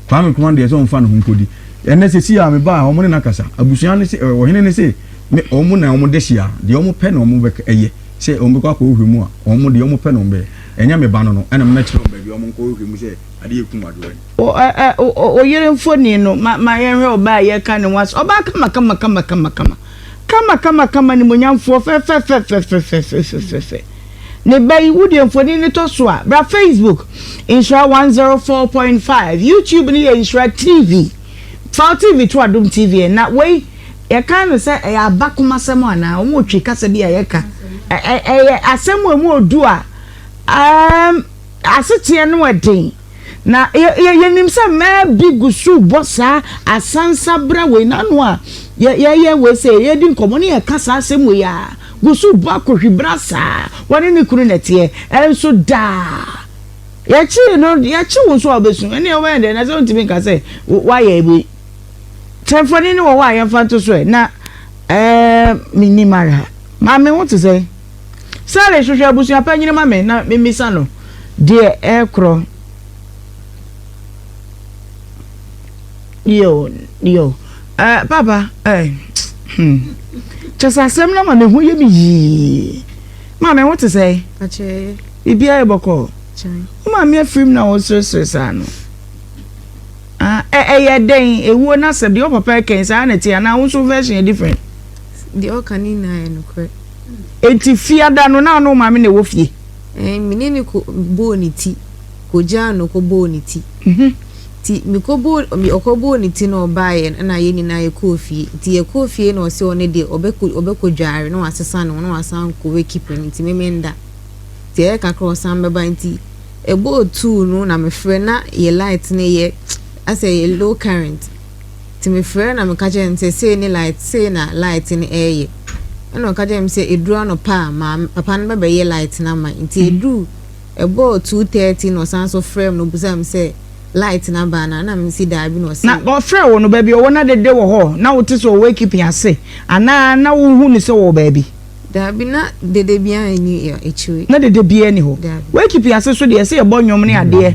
Kwame Nkrumah deɛ sɛ ɔmfa ne ho nkɔdi ɛnɛ sɛsi a mebaa wɔn ne no akasa abusua ne se ɛ, ɔhene ne se me wɔn na wɔn dehyeɛ a deɛ wɔn pɛ na wɔn bɛk ɛyɛ sɛ wɔn bɛkɔ akɔhwehwɛ mu a wɔn deɛ wɔn pɛ na wɔn bɛyɛ ɛnyɛ me ba no no ɛna mɛkyerɛ wɔn baabi a wɔn nkɔhwehwɛ mu sɛ adeɛ ɛkum adoa yi. O ɛ ɛ o o oyere mfoni no ma ma yɛnhwɛ ɔbaa a yɛreka ne ho asɛm. Ɔbaa kamakamakamakamakamakama. Kamakamakama animuonyamfoɔ fɛfɛfɛfɛfɛfɛfɛfɛfɛfɛ. Ne ba yi wo deɛ mfoni no tɔ so a bra Facebook nhyira 104.5 YouTube no yɛ nhyira TV. Faw TV to adom TV ɛ na wei yɛkan no sɛ ɛyɛ abakomasɛm anaa wɔn retwi kasa bi a yɛka ɛ ɛ ɛyɛ asɛm a ɛmu odu a ɛɛm aseteɛ no ɛden. Na yɛ yɛ nim sɛ mmaa bi gu so bɔ saa asansabra wei n'ano a yɛ yɛyɛ wei sɛ yɛdi nkɔmɔ ne yɛka saa asɛm wei a gu so bɔ akohwibra saa wɔne ne kunu na ɛteɛ ɛnso daa yɛkye no yɛkye wo nso a wobɛsu ɛne ɛwɛn dɛ na sɛ wontumi nka sɛ woayɛ wei sɛ mfoni ne wɔ hɔ a yɛmfa nto so ɛ na ɛɛ menim ara maame wo te sɛ Sally hwehwɛ abusua panyin ma me na mimmisa no deɛ ɛrekorɔ. Yo, yo. Eh, papa, eh, hmm. Kyɛ sɛ asɛm no ma me ho yɛ me yii. Maame, wo te sɛ? Akyɛe. Biribiara yɛ bɔkɔɔ. Kyɛn. Wo maame afirim na woresresere saa no. Ah, ɛyɛ dɛn? Ewuo no asɛm deɛ wo papa ɛkɛn saa na ɛte anaa wo nso version yɛ different? Deɛ ɔka ne nyinaa yɛ nokorɛ. Enti Fiada no, na ɔne wo maame na ɛwɔ fie? Ɛɛ, me ne no kɔ bɔɔ ne ti, kɔgyaa no kɔ bɔɔ ne ti. Nti mekɔ bɔɔ, ɔkɔ bɔɔ ne ti na ɔbaeɛ no, ɛna yɛn nyinaa yɛkɔɔ fie. Nti yɛkɔɔ fie na ɔse ɔno deɛ ɔbɛkɔ, ɔbɛkɔdware na wasesa ne ho na wasan akɔ wakeep no, nti me menda. Nti ɛyɛɛ kakra a ɔsan bɛba, nti ɛbɔɔ two no na mefrɛ, na yɛn light no yɛ asɛ ɛyɛ low current. Ntsi mefrɛɛ na meka kyerɛɛ no sɛ sei ne light, sei na light no reyɛ. Nna ɔka kyerɛɛ me sɛ edur anɔpa a, maame papa no bɛbɛyɛ light no ama me. Ntsi edur, ɛbɔɔ two thirty na ɔsan so frɛɛ me na obisaa me sɛ light no aba anaa, nna mese daabi na ɔse. Na ɔfrɛɛ wo no, baabi a ɔwɔ no adede wɔ hɔ? Na wote sɛ ɔwɔ ekipi ase anaa na wohu no sɛ ɔwɔ baabi? Daabi, na dede biara nnyi ekyir yi. Na dede biara nni hɔ. Daabi. W'ekipi ase so deɛ, ɛse yɛbɔ nnwom ne adeɛ.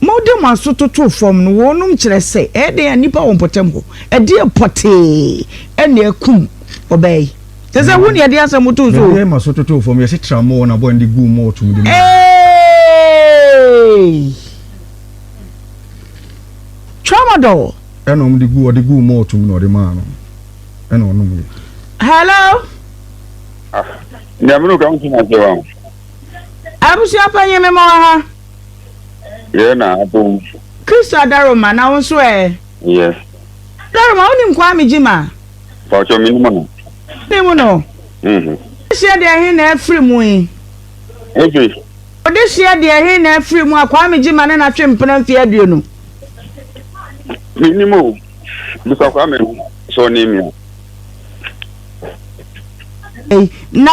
Mode mo aso totoo fam no, wɔnom kyerɛ sɛ ɛyɛ dɛn a nnipa wɔ mpɔtam hɔ, ɛdeɛn pɔtee na akum ɔbaa yi? Kyerɛ sɛ wo na yɛde asɛm too so o. Mede m'aso totoo fam, yɛse tra mo wɔn abɔne de guu mo ɔtomdi mu. Eeii! Tramadol! Ɛna wɔde guu, ɔde guu mo ɔtom na ɔde maa no, ɛna ɔnom ye. Hello? Ah, nyamunu ka nso na sɛ wɔn. Abusua panyin me mɔ ha. Yɛ na abomfo. Christo Adaroma na wo nso ɛ? Yɛ. Adaroma wonim Kwame Gyimah? Mpakyɛw menim no. Wonim no? Mhm. Odehyeɛ deɛ he na afiri mu yi? Ebi. Odehyeɛ deɛ he na afiri mu a Kwame Gyimah ne no atwe mpena mfeɛ aduonu? Menim o. Bisa Kwame sɛ ɔnim me a. Na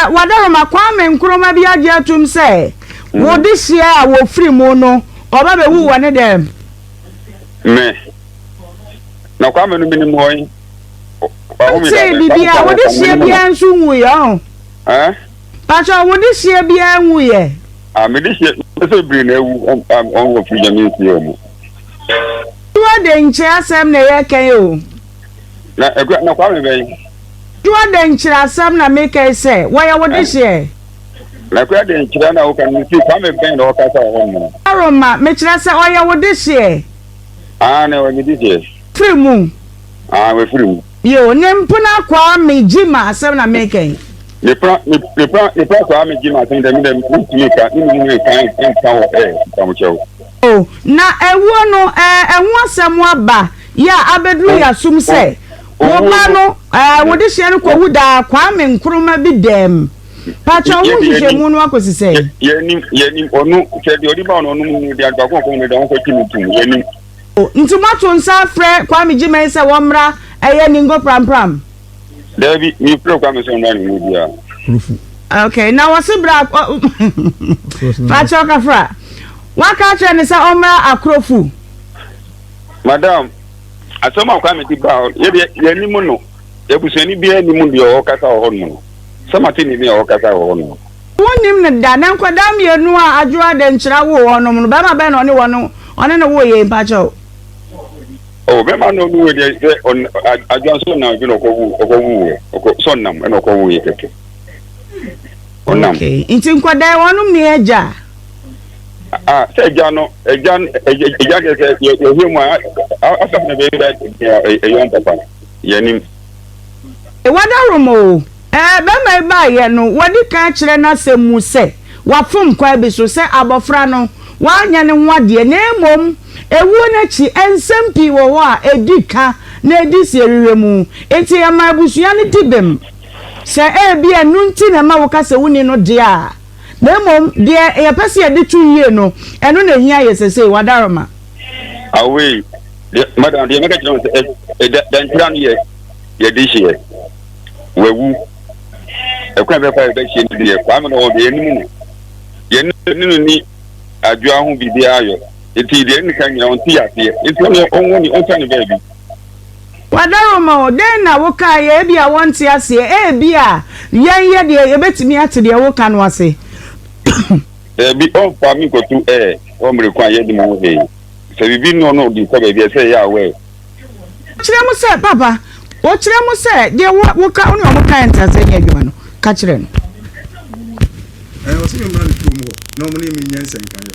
wɔadaroma Kwame Nkrumah bi agye atum sɛ wo dehyeɛ a wɔfiri mu no ɔba bɛwu wɔ ne dɛm. Me. Na Kwame no menim hɔ yi. Sɛ bibi a wo dehyeɛ biara nso nwuiɛ ɔho. Eh? Pakyɛ wo dehyeɛ biara nwuiɛ. Ah, me dehyeɛ sɛ biri na awu ɔnwɔ firi nyame nsi ɔmo. Wo de nkyɛ asɛm na ɛyɛ kɛn o. Na ɛkura na Kwame bɛn. Toa dɛn nkyerɛ asɛm na mekae sɛ wɔyɛ wo dehyeɛ. Na kura dɛn nkyerɛ na woka no mese Kwame bɛn na ɔkasa wɔ hɔ nom no. Aaron ma mekyerɛ sɛ ɔyɛ wo dehyeɛ. Aane ɔyɛ me dehyeɛ. Firi mu. Aane wafiri mu. Yoo ne mpena Kwame Gyimah asɛm na meka yi. Me pena me pena me pena Kwame Gyimah asɛm dɛ me dɛ mentumi nka ne mu nka nka wɔ ɛɛ nkamokyɛw. O, na awuo no eh, ɛho asɛm aba, yɛ a abɛduru yɛasom sɛ wo ba no eh, wo dehyeɛ no kɔwu daa Kwame Nkrumah bi dɛm. Pakyɛ wo nhwehwɛmu no akɔsi sɛn? Yɛnim, yɛnim, ɔno, sɛ deɛ ɔde ba no ɔno mu deɛ baako ɔkɔn no deɛ ɔnkɔ kyi no tum, yɛnim. O, nti moato nsa afrɛ Kwame Gyimɛn sɛ wɔmmra ɛyɛ Ningo Prampram? Dabi, mi firi kwa mi sɛ ɔnda ne mu bia. Okay, na wɔsi bra fakyɛ ɔkafra waka akyerɛ ne sɛ ɔmmra akorofu. Madam, asɛm a kwa mi ti ba yɛ deɛ yɛ ni mu no ebusuani bi ni mu deɛ ɔkasa wɔ hɔ nom no sɛ ma ti ni ni ɔkasa wɔ hɔ nom. Wɔn nim ne da na nkwadaa mmienu a adwoa de nkyerɛ wo hɔ nom no bɛrima bɛn na ɔne wɔn ɔne ne wo yɛ mpakyɛw. Oh, bɛma no ɔno wɔ deɛ sɛ adwa nso nam bi na ɔkɔwu ɔkɔwu wɔ ɔkɔ sɛ ɔnam ɛna ɔkɔwu yɛ kɛkɛ ɔnam. Okay, nti nkwadaa wɔnom ne agya. Ah, sɛ agya no agya agya deɛ sɛ yɛhwɛ mu a asafo na bɛyɛ ɛyɔn papa yɛnim. Wadaworo ma o. Ɛɛ, barima yi baeɛ no, wadi kan kyerɛ n'asɛm mu sɛ wafom kwan bi so, sɛ abɔfra no, wanyɛ ne ho adeɛ, na mmom ɛwuo no akyi, nsɛm pii wɔ hɔ a ɛdi ka na ɛdi siehwehwɛ mu. Nti ɛma abusua no di bem. Sɛ ebia ɛno nti na ɛma woka sɛ wonni no deɛ a, Na mmom deɛ yɛpɛ sɛ yɛde to yie no, ɛno na ɛhia yɛ sesei, Wadaroma. Awei, deɛ madam deɛ mɛka kyerɛ wo sɛ ɛda dantira no yɛ yɛde hyeɛ wawu ɛkwan bɛfa yɛbɛhyeɛ no deɛ kwame na wɔde yɛnim no yɛne no ni adwoa ho biribiara yɔ nti deɛ ne ka nyina ɔnte yɛ aseɛ nti ɔne ɔnwɔ ne ɔnsa ne baabi Wɔadaworo ma wo. Dɛn na wokaeɛ? Ebia wɔnte aseɛ. Ebia yɛn yɛ deɛ yɛbɛtumi ate deɛ woka no ase. Daabi, ɔmfa me nkɔto ɛ, wɔ mmerɛ ko a yɛadi mu ho hee. Sɛ biribi nnɔ no de kɔ baabi a, ɛsɛ sɛ ɛyɛ aware. Kyerɛ mu sɛ, Papa, o, kyerɛ mu sɛ, deɛ wo, woka, wo ne wɔn kaeɛ nte aseɛ nyɛ adwuma no, ka kyerɛ no. Ɛ, ɔse me mmra ne kurom hɔ na wɔne me nyɛ nsɛnkaeɛ.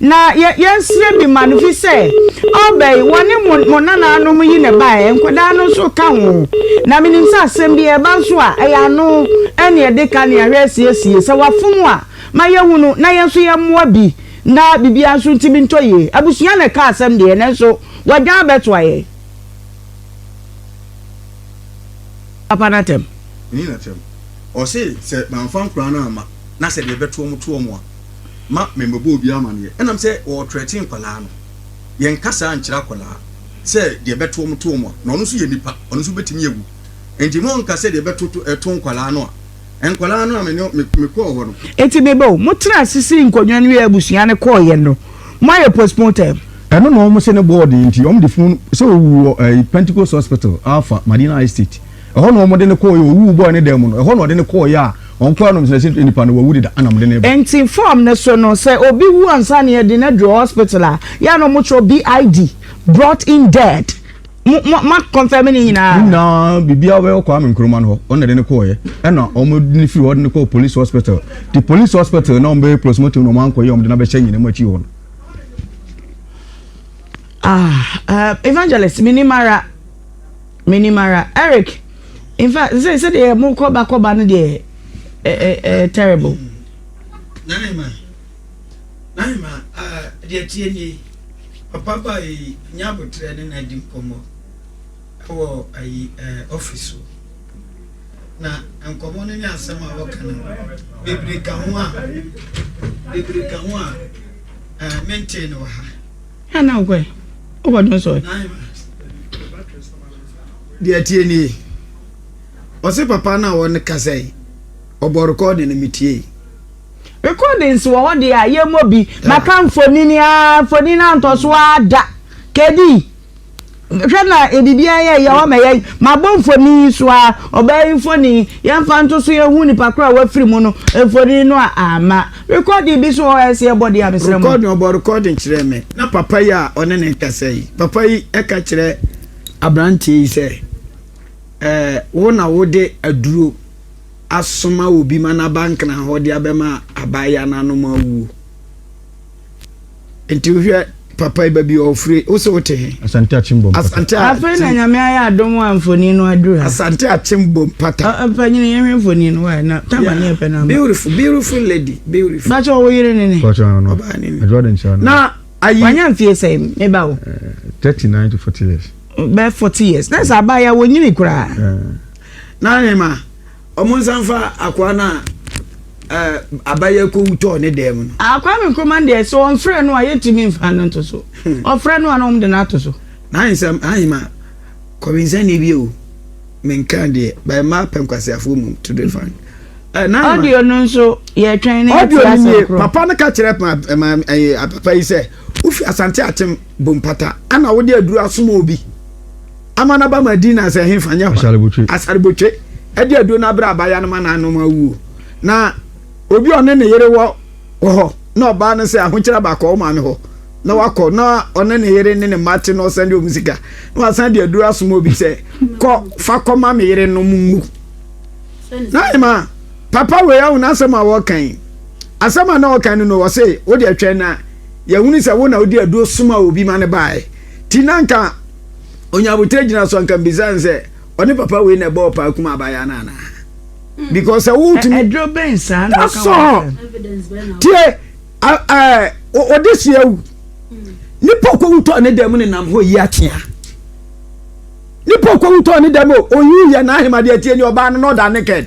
Na yɛ yɛnsrɛ bi ma no fi sɛ ɔɔba yi wɔne mo mo nanaanom yi na ɛbaeɛ, nkwadaa no nso ka ho. Na menim sɛ asɛm bi ɛɛba nso a ɛyɛ ano ɛne ɛde ka nea hwɛ siesie sɛ wafom a ma yɛhunu na yɛn nso yɛmmoa bi na biribiara nso ntumi ntɔ yie. Abusua na ɛka asɛm deɛ nanso wɔadwane abɛtoa yɛn papa no atɛm. Nyi n'atɛm. Ɔse sɛ mamfa nkwadaa no amma na sɛ deɛ ɛbɛto wɔn to wɔn a. ma memmɛbɔ obiara amaneɛ. Ɛnam sɛ wɔretrɛte nkwadaa no, yɛnka saa nkyerɛ akwadaa sɛ deɛ ɛbɛto wɔn to wɔn a, na ɔno nso yɛ nipa, ɔno nso bɛtumi awu. Enti monnka sɛ deɛ ɛbɛto to ɛto nkwadaa no a. Nkwadaa no a me ne me kɔɔ hɔ no. Enti meba o, motena ase sii nkonnwa no wiee abusua no kɔeɛ no, moayɛ postmortem. Ɛno na wɔn se ne bɔɔ den nti wɔn de funu sɛ ɔwu wɔ ɛyi Pentecost Hospital, Alpha, Madina High State. Ɛhɔ na wɔde no kɔeɛ, ɔwuu bɔɔ ne dan mu no, ɛhɔ na wɔde no kɔeɛ a wɔn kora no no, sɛ nnipa no wawu deda, ɛna wɔde no reba. Nti form no so no, sɛ obi wu ansa na yɛde no aduru hospital a, yɛ a na wɔkyerɛw BID, brought in dead. Mo, mo, mo confirm ne nyinaa? Ne nyinaa, biribiara wɔ Kwame Nkrumah no hɔ, wɔn na de no kɔeɛ, ɛna wɔde no firi hɔ de no kɔɔ police hospital. Nti police hospital na wɔbɛyɛ postmortem na wɔankɔyɛ a wɔde no abɛhyɛ anyinam akyi hɔ no. Ah, uh, evangelist, menim ara. Menim ara. Eric, in fact, sɛ sɛ deɛ mo kɔ ba kɔ ba no deɛ ɛ ɛ ɛ terrible. Nahima, Nahima, ah, deɛ tie nie, papa ba yi nya abotrɛ ne na di nkɔmmɔ ɛwɔ ayi ɛɛ office so. Na nkɔmmɔ no ne asɛm a wɔka no bebree ka ho a, bebree ka ho a ɛɛ mentee no wɔ ha. Hena na ɔkɔe? Wokɔdwen so ɛ? Deɛ ɛteɛ nie, ɔse papa no a ɔkasa yi, ɔbɔ recording no metiee. Recordings wɔ hɔ deɛ a yɛmmɔ bi. Maka mfonini aa, mfonini antɔ so aa da. Kedi. Hwɛ na biribiara yɛ yaw ama yɛn. Mabɔ mfoni yi so ara, ɔbaa yi mfoni. Yɛmfa nto so yɛnhu nipa koro a wafiri mu no mfoni no a amma. Rekɔɔdin bi nso wɔ hɔ a ɛsɛ yɛbɔ deɛ a mesrɛ mo. Rekɔɔdin, ɔbɔ rekɔɔdin kyerɛɛ me. Na papa yi a ɔne no rekasa yi, papa yi ka kyerɛ aberanteɛ yi sɛ, Ɛɛ, wo na wode aduro asoma obi ma no aba nkran hɔ de abɛma abaayewa no anom awuo. Nti wohwɛ papa yi baabi ɔfiri wo sɛ wote he? Asante Akyembom pata. Asante Akyembom. Afei na nyame ayɛ adom a mfoni no aduru ha. Asante Akyembom pata. Mpanyini yɛn hwɛ mfoni no wae na tama ne yɛ pɛ na. Beautiful beautiful lady beautiful. Bàtchɛ ɔwɔ yere ne ne. Bàtchɛ ɔno ɔbaa ne ne. Adwuma de nkyɛn no. Na ayi. Wanya mfie sɛ me ba o. Eh, thirty nine to forty years. Bɛɛ forty years. Na sɛ abaayewa wɔ nyini koraa. Eh. Na ne ma. Ɔmo nsa nfa akoa no a aba yi akowu tɔɔ ne dan mu no. Ah Kwame Nkrumah deɛ sɛ ɔnfrɛ no a yɛntumi mfa no nto so. Ɔfrɛ no a na wɔn de no ato so. N'ahe nsɛm ahe ma kɔwensani bi o menkaa deɛ by mmaa pɛ nkwaseafoɔ mu to the fan. Audio no nso yɛtwɛn na yɛte asɛm korɔ. Papa no ka kyerɛ papa yi sɛ wofi asante akyem bompata ana wode aduru asoma obi. Amana ba ma Dina sɛ hefa nyɛ hɔ a, asarbotwe de aduro no abrɛ abaayewa no ma no anom awu. Na obi a ɔne ne yere wɔ wɔ hɔ na ɔbaa no sɛ ahokyerɛ aba kɔ wo maame hɔ na wakɔ na ɔne ne yere ne ne mma te na ɔsan de wɔn sika na wasan de aduro asoma obi sɛ kɔ fa kɔma me yere no mu ngu na ɛma papa wei ahu n'asɛm a wɔka yi asɛm a na wɔka no no wɔse wode atwɛn na yɛhunu sɛ wo na wode aduro soma obi ma no baeɛ ti na nka onya abotire gyina so anka mbisa no sɛ ɔne papa wei na ɛbɔ ɔpaa kum abaayewa no anaa hmm. because sɛ wotumi ɛduro bɛn saa na ɔka wɔn tie ɔde si awu hmm. nipa okowutɔ ne dɛm ne nam hɔ yi akyea nipa okowutɔ ne dɛm o oyi yɛ n'ahemadeɛ tie ni ɔbaa no na ɔda naked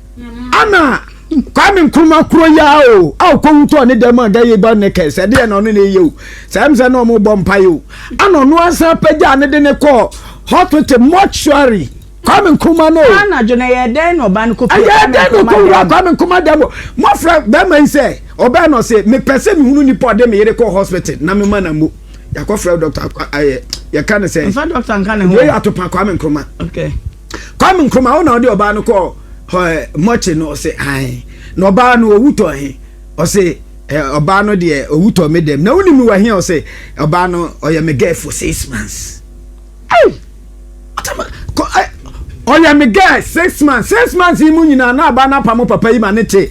Ana Kwame Nkrumah kuro yi ara o a ɔkɔwu tɔɔ ne dɛm a da yi ba ne kɛse ɛdeɛ na ɔno na ɛyɛ o saa m sɛ na ɔmo bɔ mpa yɛ o ana ɔno ansa apagya ne de ne kɔɔ hospital mortuary Kwame Nkrumah no o anadwo na ɛyɛ dɛn na ɔba no kɔ fie ɛyɛ dɛn na ɔkɔwura Kwame Nkrumah dɛm o mɔfra bɛrima yi sɛ ɔbɛn na ɔse mepɛ sɛ mehunu nipa ɔde me yere kɔɔ hospital na mema na mo yɛakɔfrɛ dɔkta ɛyɛ yɛka ne sɛ yɛyɛ atopa Kwame Nkrumah okay Kwame Nkrumah wo na ɔde ɔbaa no kɔɔ hɔ ɛ mɔkye no ɔse ae na ɔbaa no ɔwu tɔ he ɔse ɛ ɔbaa no deɛ ɔwu tɔ me dɛm na wonim me wɔ he ɔse ɔbaa no ɔyɛ me girl for six months ei ɔtama kɔ ɛ ɔyɛ me girl six months six months yi mu nyinaa na ɔbaa no apa mo papa yi ma ne te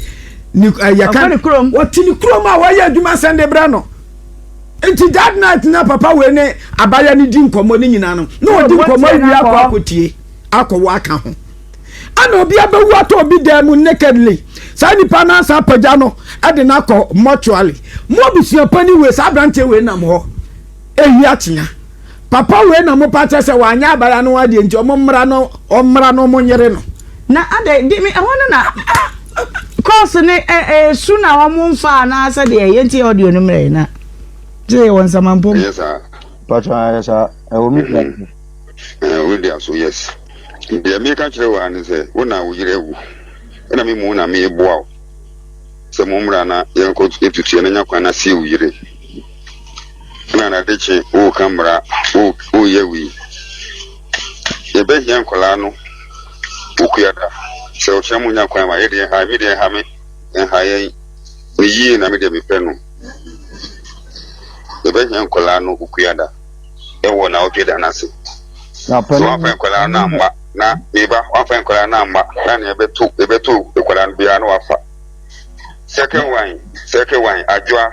ne ɛ yɛka ɔte ne kurom a wɔyɛ adwuma sɛn de brɛ no Nti that night na papa wei ne abaya no di nkɔmmɔ no nyinaa no na ɔdi nkɔmmɔ awie akɔ akɔtie akɔwɔ aka ho ɛna obi abɛwu atɔ obi dan mu nakedly saa nipa no asa apagya no ɛde no akɔ mortuary mo abusuapɔ ni wei saa aberanteɛ wei nam hɔ ɛhia kyea Papa wei na ɔmo pakyɛ sɛ wanyɛ abaya no adeɛ nti ɔmo mmra no ɔmmra na ɔmo nyere no. Na adɛn de me ɛhɔ no na course ne ɛ ɛ su na ɔmo nfa anaa sɛ deɛ ɛyɛ nti audio no mmerɛ na gye yɛ wɔ nsamampɔ mu. Ɛyɛ saa. Patro ayɛ saa ɛwɔ me fie ase. Ɛɛ wo de aso yes deɛ meka kyerɛ wo ara ne sɛ wo na wo yere awu ɛna me mu na meboa wo sɛ mo mmra na yɛnkɔ yɛtutu yɛn na nya kwan na sie wo yere. na n'ade kye woka mmara woyɛ wei yɛbɛhia nkwadaa no okuada sɛ ɔkyerɛ mo nya kwan ma yɛ deɛ ha me deɛ ha me ha yɛn me yie na me deɛ mepɛ no yɛbɛhia nkwadaa no okuada ɛwɔ na ɔtwe da n'ase na pɛn wafɛn nkwadaa no amma na meba wafɛn nkwadaa no amma na nea ɛbɛto ɛbɛto nkwadaa no biara na wafa second one second one adwoa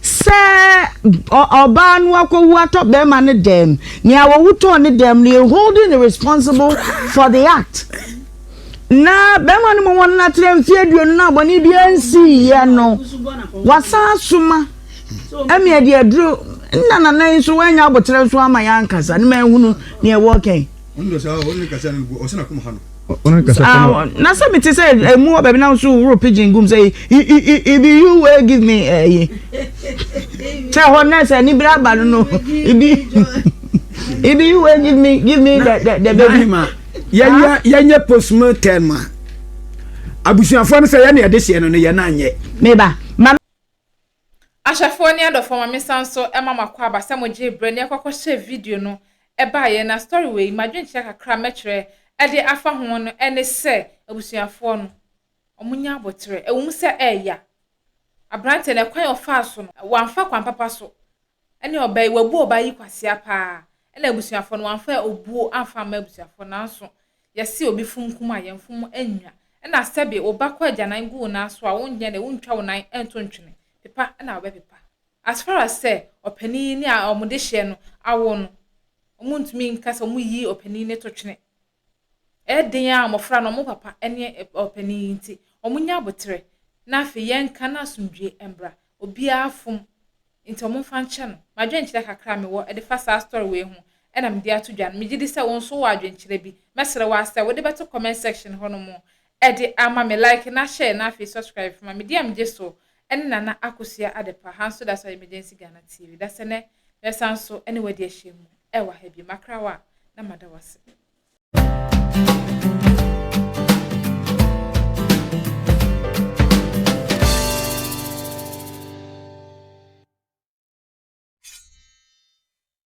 Sɛ ɔbaa no akɔwu atɔ bɛrima no dɛm, nea wɔwu tɔɔ ne dɛm no, yɛ holding no responsible for the act. Na bɛrima no ma wɔn atena mfe aduonu na abɔne biara nsiiɛ no, wasan asoma ɛmea de aduro nna nana yi nso wanya aboterɛ nso ama yɛn ankasa ne ma ahunu nea ɛwɔ kɛn. Ah, na sɛ mete sɛ ɛmu hɔ baabi na nso woro pigeon gum sɛ ibi you wey give me ɛyi sɛ hɔ na sɛ anibere aba no no ibi ibi you wey give me give me the the the baby. yɛnyɛ yɛnyɛ postman term a abusuafoɔ no sɛ yɛne ɛde hyɛ no no yɛn anyɛ. meba ma. Ahwɛfoɔ ne adɔfoɔ ma mensan nso ma makɔ aba sɛ mogyee berɛ ne ɛkɔkɔhyɛɛ video no baeɛ na story wei m'adwenkyerɛ kakra mɛtwerɛ de afa ho no ne sɛ abusuafoɔ no ɔmo nya aboterɛ ɛwɔ mu sɛ ɛɛya aberanteɛ no ɛkwan ɔfaa so no wamfa kwan papa so Ɛne ɔbaa yi wabu ɔbaa yi kwasea paa ɛna abusuafoɔ no wamfa obuo amfa amma abusuafoɔ nanso yɛse obi fom kum a yɛn fom nwa ɛna sɛbe wo ba kɔ agyanan gu wo nan so a wonyɛ dɛ wontwa wo nan nto ntwene pepa ɛna wobɛpepa as far as sɛ ɔpanin yi ne a wɔn dehyeɛ no awo no wɔn ntumi nka sɛ wɔn yi ɔpanin no to twene. Ɛyɛ den ara a mmofra no, wɔn papa ne ɔpanyin yi nti, wɔnnya aboterɛ, na afei yɛnka na asomdwoe mmra. Obiara fom, nti wɔmfa nkyɛ no. M'adwenkyerɛ kakra a mewɔ de fa saa story wei ho na mede ato dwa no, megye di sɛ wo nso wowɔ adwenkyerɛ bi. Mɛsrɛ wo ara sɛ wode bɛto comment section hɔnom Ɛde ama me like na share na afei subscribe fama me dear megye so ɛne Nana Akosua Adepa ha nso daso emergency Ghana TV dasɛ nɛ mɛsan so ɛne wadi ahyia mu ɛwɔ ha bio makra wo a na mada wase.